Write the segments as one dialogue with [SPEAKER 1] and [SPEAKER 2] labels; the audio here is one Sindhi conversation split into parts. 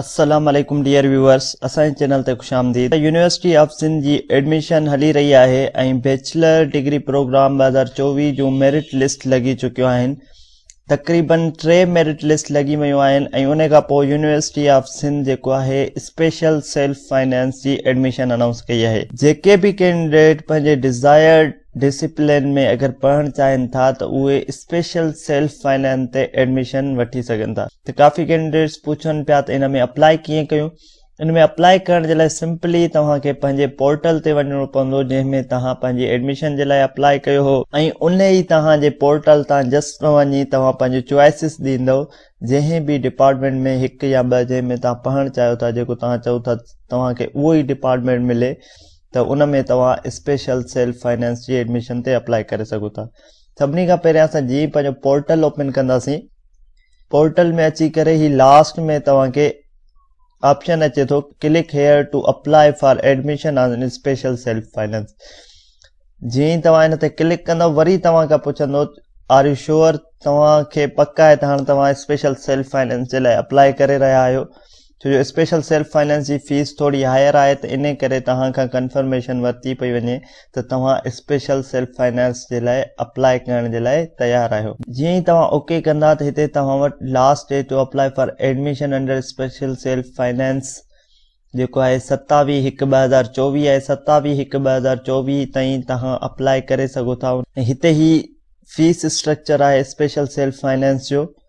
[SPEAKER 1] السلام عليڪم ڊيئر ويوئرس اسان جي چينل تي خوش آمديد يونيورسٽي آف سنڌ جي ايڊميشن هلي رهي آهي ۽ بيچلر ڊگري پروگرام 2024 جون ميرٽ لسٽ لڳي چڪيون آهن تقريبن ٽي ميرٽ لسٽ لڳي ويون آهن ۽ ان کان پوء يونيورسٽي آف سنڌ جيڪو آهي اسپيشل سيلف فائنانس جي ايڊميشن انائونس ڪئي آهي جيڪي به ڪينڊيڊيٽ پنهنجي ڊزائرڊ ڊسپلين ۾ اگر پڙهڻ چاهين ٿا ته اهي اسپيشل سيلف فنانس تي ايڊميشن وٺي سگهن ٿا ته ڪافي ڪينڊيڊيٽس پڇن پيا ته ان ۾ اپلاء ڪيئن ڪيون ان ۾ اپلاء ڪرڻ جي لاء سمپلي توهان کي پنهنجي پورٽل تي وڃڻو پوندو جنهن ۾ توهان پنهنجي ايڊميشن جي لاء اپلاء ڪيو هو ۽ ان ئي توهان جي پورٽل تان جسٽ وڃي توهان پنهنجو چوائسز ڏيندو جنهن به ڊپارٽمينٽ ۾ هڪ يا ٻه جنهن ۾ توهان پڙهڻ چاهيو ٿا جيڪو توهان چئو ٿا توهان کي اهو ئي ڊپارٽمينٽ ملي ته ان ۾ توهان اسپيشل سيلف فنانس جي ايڊميشن تي اپلائي ڪري سگهو ٿا سڀني کان پهريان اسان جي پنهنجو پورٽل اوپن ڪنداسين پورٽل ۾ اچي ڪري هي لاسٽ ۾ توهان کي آپشن اچي ٿو click here to apply for admission on special self finance جي توهان هن تي ڪلڪ ڪندو وري توهان کان پڇندو آر يو شور توهان کي پڪ آهي ته هاڻي توهان اسپيشل سيلف فائنانس جي لاء اپلائي ڪري رهيا آهيو ڇو جو اسپيشل سيلف فائنانس جي فيس ٿوري هائر آهي ته انهي ڪري توهان کان ڪنفرميشن ورتي پئي وڃي ته توهان اسپيشل سيلف فائنانس جي لاء اپلاء ڪرڻ جي لاء تيار آهيو. جيئن ئي توهان اوڪي ڪندا ته هتي توهان وٽ last day to apply for admission under special self finance جيڪو آهي ستاويهه هڪ ٻه هزار چوويهه آهي ستاويهه هڪ ٻه هزار چوويهه تائين توهان اپلاء ڪري سگهو ٿا ۽ هتي هي فيس اسٽرڪچر آهي اسپيشل سيلف فائنانس جو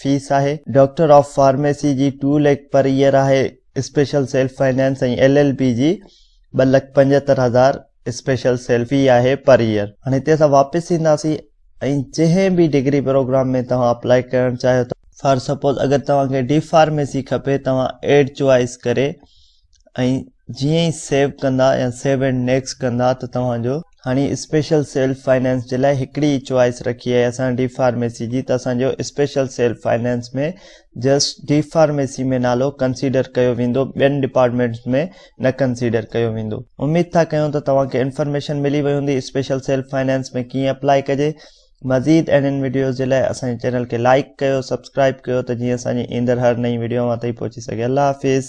[SPEAKER 1] فيس آهي. ڊاڪٽر آف فارميسي جي ٽو ليڪ پر ايئر آهي، special self finance ۽ L L B جي ٻه لک پنجهتر هزار اسپيشل سيلف في آهي پر ايئر. هاڻي هتي اسان واپس اينداسين ۽ جنهن به ڊگري پروگرام ۾ توهان اپلائي ڪرڻ چاهيو ٿا. فار سپوز اگر توهان کي ڊي فارميسي کپي توهان ايڊ چوائيس ڪري ۽ جيئن ئي سيو ڪندا يا سيو اينڊ نيڪسٽ ڪندا ته توهان جو هاڻي اسپيشل سيلف فائنانس جي لاء هڪڙي ئي چوائس رکي آهي اسان ڊي فارميسي جي ته اسان جو special self finance ۾ just D pharmacy ۾ نالو ڪنسيڊر ڪيو ويندو ٻين ڊپارٽمينٽس ۾ نه ڪنسيڊر ڪيو ويندو اميد ٿا ڪيون ته توهان کي انفارميشن ملي وئي هوندي اسپيشل سيلف فائنانس ۾ ڪيئن اپلائي ڪجي مزيد اهڙين وڊيوز جي لاء اسان جي چينل کي لائڪ ڪيو سبسڪرائب ڪيو ته جيئن اسان جي ايندڙ هر نئين وڊيو اوهان تائين پهچي سگهي الله حافظ